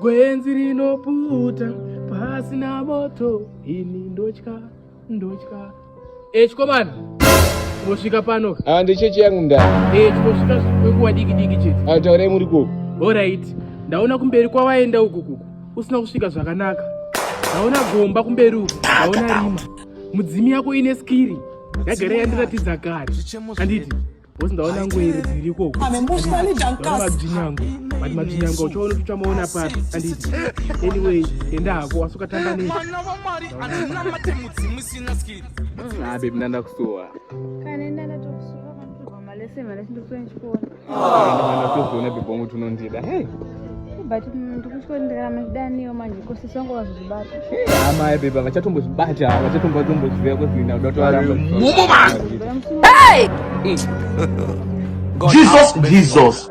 Gwenzi rinoputa pasina moto ini ndotya ndotya echikomana eh, wosvika pano ah ndechechi yangu ndani eh tikosvika kwenguva diki diki chete ah taurai muri ko all right ndaona kumberi kwawaenda uku kuku usina kusvika zvakanaka ndaona gomba kumberi uku ndaona rima mudzimi yako ine skiri yagara yandiratidza kare handiti bosi ndaona ngo iri dziri ikoko mabzinyango but mabzinyango uchaona kuti uchamaona papi anditi anyway enda hako wasukatamba nei abe mna ndakusuwa ndatozoona bebongu tunondida hey but ndikutya ndirarama ndidaniwo manje kosi songo vazozvibata hama ebeba vachatombozvibata vachatombazomboziva kuti ndauda kutovaramba mumo vangu jesus jesus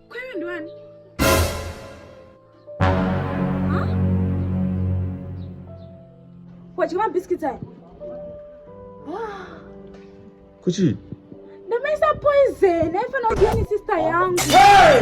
Kweyo ndiwani? Wadya mabhisikitsi aya? Kuchii? Ndamesa poison, aifana kudya ni sister yangu. Hey!